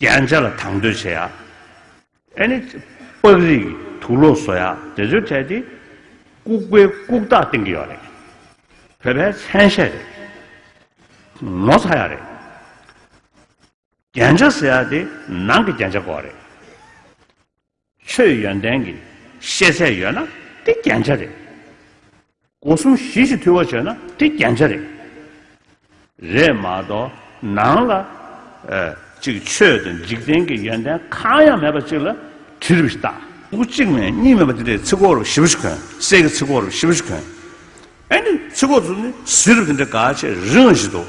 རྒྱན་ཆ་ལ་དང་དོད་བྱེད་ཡག། ཨེ་ནི། པགས་རིགས་ཀྱི་དུག་ལོག་བཟོ་ཡག་དེ་ཚོའི་གྲས་དེ། ལྐུགས་པའི་ལྐུགས་རྟགས་བསྟན་གྱི་ཡོད་རེད། བོད་པའི་མཚན་ཤས་རེད། ངོ་ཚ་ཡག་རེད། རྒྱན་ཆ་ཟེར་ཡག་དེ་ནང་གི་རྒྱན་ཆ་གོ་རེད། ཆོས་ཡོན་ཏན་གྱི་ཤེས་ཚད་ཡོད་ན་དེ་རྒྱན་ཆ་རེད། སྒོ་གསུམ་གཞི་གཅིག་འཐུས་བ་བྱས་ན་དེ་རྒྱན་ཆ་རེད། རེད་མ་གཏོགས་ནང་ལ་ཅིག་ཆོས་དང་འཇིག་རྟེན་གྱི་ཡོན་ཏན་གང་ཡང་མེད་པ་ཅིག་ལ་དྲི་རུ་བཏགས། སྐུ་གཅིག་མེད་གཉིས་མེད་པ་དེ་འདྲའི་ཚིག་གོ་རུ་ཞི་བ་ཞིག་གོན། གསེར་གྱི་ཚིག་གོ་རུ་ཞི་བ་ཞིག་གོན། ཨེ་འདི་ཚིག་གོ་རུ་ནི་བཟི་རུ་དེ་འདྲ་ག་ཆེ་རིང་ཞིག་འདུག།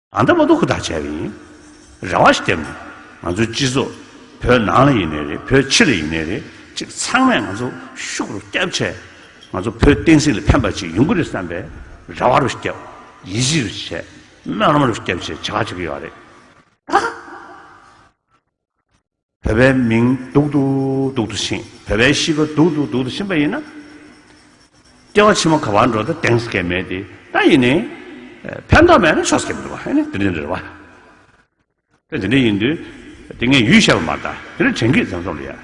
ཨ་མདོ་མ་མདོ་ཁུ་ཐག་བཅད་པ་ཡིན། རེ་བ་ཞིག་བསྟན་མོད། ང་ཚོའི་སྤྱི་ཚོགས། བོད་ནང་ལ་ཡིན་ནས་རེད་བོད་ཕྱི་ལ་ཡིན་ནས་རེད་ཅིག་ཚང་མས་ང་ཚོ་ཤུགས་རུ་སྐྱབས་བྱས། ང་ཚོ་བོད་བསྟན་སྲིད་ལ་ཕན་པ་ཅིག་ཡོང་གི་རེད་བསམ་པའི་རེ་བ་རུ་སྐྱབས། ཡིད་ཆེས་རུ་བྱས། སྨོན་ལམ་རུ་སྐྱབས་བཅས་བྱེད་ཀ་བྱེད་ཀི་ཡོད་རེད། ད། བོད་པའི་མིང་སྡུག་ཏུ་སྡུག་ཏུ་ཕྱིན། བོད་པའི་གཤིས་ཀ་སྡུག་ཏུ་སྡུག་ཏུ་ཕྱིན་པ་ཡིན་ན། སྐྱེ་བ་ཕྱི་མ་ག་བར་འགྲོ་ད་དེངས་སྐད་མེད་དེ། ད་ཡིན་ནའི། ཕན་ཐོགས་མེད་ན་ཆོག་སྐད་མེད་པ་ཨ་ནི་དེ་འདྲའི་རེད་བ། དེ་འདྲ་ཡིན་དུས། དེ་ངས་ཡུལ་ཤར་བ་མ་གཏགས་དེ་འདྲ་དྲན་གི་བཙན་བཟུང་ལ་ཡ།